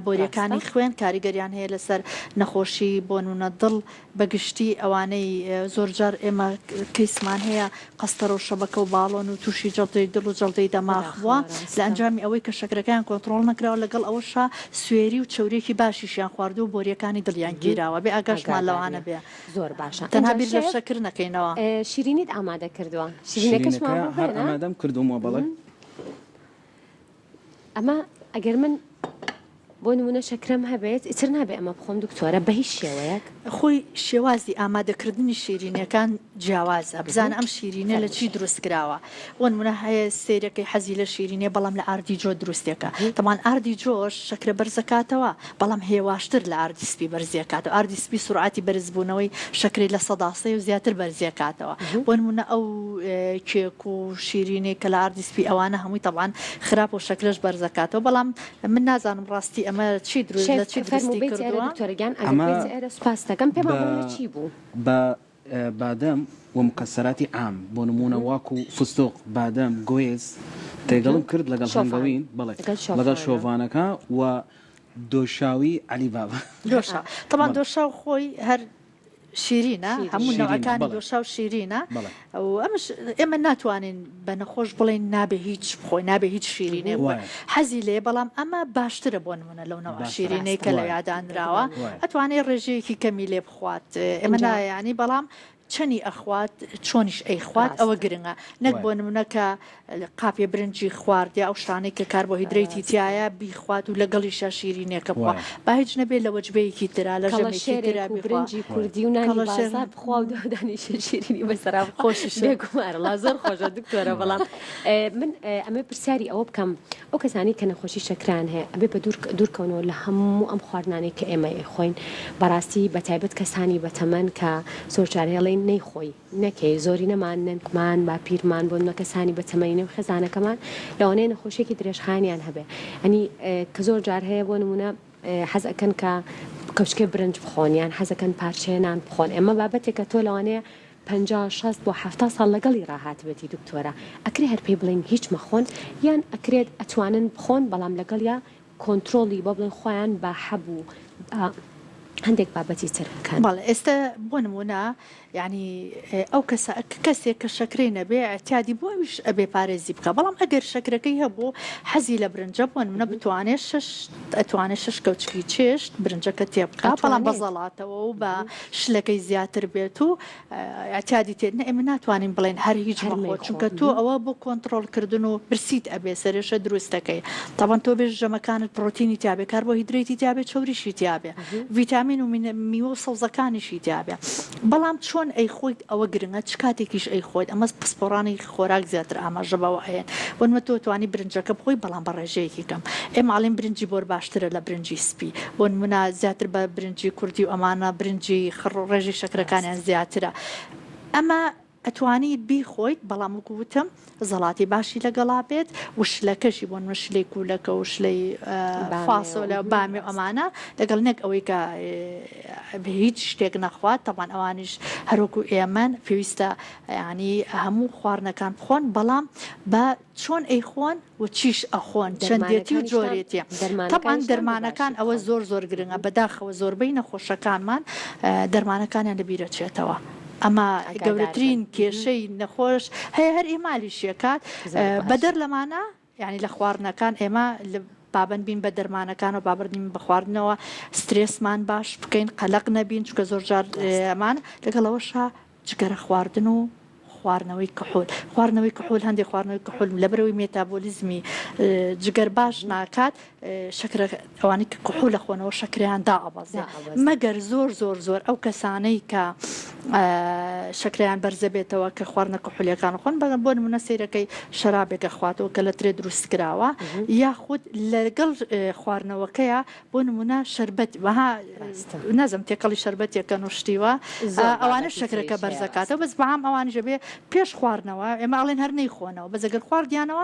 بۆریەکانی خوێن کاریگەریان هەیە لەسەر نەخۆشی بۆنونە دڵ بە گشتی ئەوانەی زۆرجار ئێمە کەیسمان هەیە قەستەرە و شەبەکە و باڵۆن و تووشی جەڵدەی دڵ و جەڵدەی دەماغ بووە لە ئەنجامی ئەوەی کە شەکرەکەیان کۆنتڕۆڵ نەکراوە لەگەڵ ئەوەشا سوێری و چەوریەکی باشیشیان خواردووە و بۆریەکانی دڵیان گیراوە بێ ئاگاشمان لەوە نەبێ تەنها بیر لە شەکر نەکەینەوە. شیرینیت ئامادە کردووە شیرینەکەشمان بۆ بێنە. شیرینەکە هەر ئامادەم کردوومە بەڵێ. ئەمە ئەگەر من بۆ نمونە شەکرەم هەبێت ئیتر نابێ ئەمە بخۆم دکتۆرە بە هیچ شێوەیەک خۆی شێوازی ئامادەکردنی شیرینەکان جیاوازە بزان ئەم شیرینە لە چی دروست کراوە بۆ نمونە هەیە سیرەکەی حەزی لە شیرینێ بەڵام لە ئاردی جۆ دروستێکە تەمان ئاردی جۆش شەکرە بەرزەکاتەوە بەڵام هێواشتر لە ئاردی سپی بەرزیەکاتەوە، ئاردی سپی سورعاتی بەرزبوونەوەی شەکرەی لە سەدا سێ و زیاتر بەرزیەکاتەوە، بۆ نموونە ئەو کێک و شیرینەی کە لە ئاردی سپی ئەوانە هەمووی تەبعەن خراپە و شەکرەش بەرزەکاتەوە، بەڵام من نازانم ڕاستی ئەمە چی دروست لە چی دروستی کردووە. ئەمە بە. بادەم و مکەسەراتی عام بۆ نموونە واکو فستق، بادەم، گویز تێگەڵم کرد لەگەڵ هەنگەوین بەڵێ لەگەڵ شۆڤانەکە و دۆشاوی عەلی بابا. دۆشاو تەبان دۆشاو خۆی هەر شیرینە هەموو نەوعەکانی دۆشاو شیرینە و ئەمش ئێمە ناتوانین بە نەخۆش بڵێین نابێ هیچ بخۆی نابێ هیچ شیرینێ بووە حەزی لێ بەڵام ئەمە باشترە بۆ نمونە لەو نەوە شیرینەی کە لە یادانراوە ئەتوانێ ڕێژەیەکی کەمی لێ خوات ئێمە نایانی بەڵام چەنی ئەخوات چۆنیش ئەی خوات ئەوە گرنگە نەک بۆ نمونە کە قاپێ برنجی خواردیا ئەو شانەی کە کار بۆ هیدرەیتی تایە بیخوات و لەگەڵی شاشیرینێکە بووە با هیچ نەبێت لە وەجبەیەکی تررا لە شێرا برنجی کوردی و ناڵەشێر بخوا دانیش شیرینی بەسەرا خۆشی شێگومارڵ زۆر خۆشە دکتۆرە بەڵام من ئەمە پرسیاری ئەوە بکەم ئەو کەسانی کە نەخۆشی شەکران هەیە ئەبێ بە دوور دوورکەونەوە لە هەموو ئەم خواردنانەی کە ئێمە خۆین بەڕاستی بە تایبەت کەسانی بەتەمەن کە سۆرچارهێڵی نەیخۆی نەکەی زۆری نەمان نەنکمان با پیرمان بۆن مە کەسانی بەتەمەینە و خێزانەکەمان لەوانەیە نەخۆشیێکی درێژخانیان هەبێ ئەنی کە زۆر جار هەیە بۆ نمونە حەزەکەن کە کەچکێ برنج بخۆنیان حەزەکەن پارچەیە نان بخۆن ئەمە بابەتێکە تۆ لەوانەیە پەنجا شەست بۆ حەفتا ساڵ لەگەڵی ڕاهاتبێتی دکتۆرە ئەکرێ هەر پێی بڵێین هیچ مەخۆن یان ئەکرێت ئەتوانن بخۆن بەڵام لەگەڵیا کۆنترۆڵی بۆ بڵێن خۆیان با حەبوو با هەندێک بابەتی تر بکەن. بەڵێ ئێستە بۆ نموونە یانی ئەو کەسە کەسێک کە شەکرەی نەبێ ئیعتیادی بوو ئەویش ئەبێ پارێزی بکا بەڵام ئەگەر شەکرەکەی هەبوو حەزی لە برنجە بۆ نموونە بتوانێ شەش ئەتوانێ شەش کەوچکی چێشت برنجەکە تێ بکا بەڵام بە زەڵاتەوە و بە شلەکەی زیاتر بێت و ئەتیادی تێت نە ئێمە ناتوانین بڵێن هەر هیچ مەخۆ چونکە تۆ ئەوە بۆ کۆنتترۆلکردن و برسیت ئەبێ سەرێشە دروستەکەی تاوان تۆ بێژ ژەمەکانت پرۆتینی تیاابێ کار بۆ هیدرێتی تیاابێ چوریشی تیاابێ ڤیتامین و میوە و سەوزەکانیشی تیاابێ بەڵام چۆن ئەی خۆیت ئەوە گرنگە چ کاتێکیش ئەی خۆیت ئەمەز پسپۆڕانی خۆراک زیاتر ئاماژە بەوە ئەیەن بۆن مە تۆ توانی برنجەکە بخۆی بەڵام بە ڕێژەیەکی کەم ئێمە ئەڵێن برنجی بۆر باشترە لە برنجی سپی بۆ نمونە زیاتر بە برنجی کوردی و ئەمانە برنجی خڕ ڕێژەی شەکرەکانیان زیاترە ئەمە ئەتوانیت بیخۆیت بەڵام وەکو وتم زەڵاتی باشی لەگەڵا بێت و شلەکەشی بۆن من شلەی کوولەکە و شلەی فاسۆلە بامی و ئەمانە لەگەڵ نەک ئەوەی کە هیچ شتێک نەخوات تەبان ئەوانیش هەروەکو ئێمەن پێویستە یانی هەموو خواردنەکان بخۆن بەڵام بە چۆن ئەیخۆن و چیش ئەخۆن چەندێتی و جۆرێتی تەبان دەرمانەکان ئەوە زۆر زۆر گرنگە بەداخەوە زۆربەی نەخۆشەکانمان دەرمانەکانیان لەبیرەچێتەوە ئەمە گەورەترین کێشەی نەخۆش هەیە هەر ئیمالیشیەکات بەدەر لەمانە یانی لە خواردنەکان ئێمە پابەند بین بە دەرمانەکانەوە بابردین بە خواردنەوە سترێسمان باش بکەین قەلق نەبین چکە زۆر جار ئەمان لەگەڵەوەشە جگەرە خواردن و خواردنەوەی کەحول خواردنەوەی کەحول هەندێک خواردنەوەی کەحول لە برەوەی مێتابۆلیزمی جگەر باش ناکات شەکرە ئەوانی کە کحول ئەخۆنەوە شەکریان دائەبەزێ مەگەر زۆر زۆر زۆر ئەو کەسانەی کە شەکریان بەرزە بێتەوە کە خواردنە کحولەکان خۆن بەگە بۆ نمونە سیرەکەی شەرابێکە خواتەوە کە لە ترێ دروست کراوە یاخود لەگەڵ خواردنەوەکەیە بۆ نمونە شربەت وەها نازم تێکەڵی شربەتێکە نوشتیوە ئەوانە شەکرەکە بەرزەکاتەوە بەس بەام ئەوان ژەبێ پێش خواردنەوە ئێمە ئاڵێن هەر نەیخۆنەوە بەزەگەر خواردیانەوە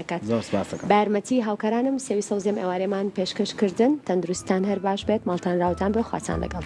دەکات زۆر سپاست دەکەم. بەیارمەتی هاوکارانم سێوی سەوزی ئەم ئێوارەیەمان پێشکەش کردن تەندروستتان هەر باش بێت ماڵتان راوتان بێ خواتان لەگەڵ.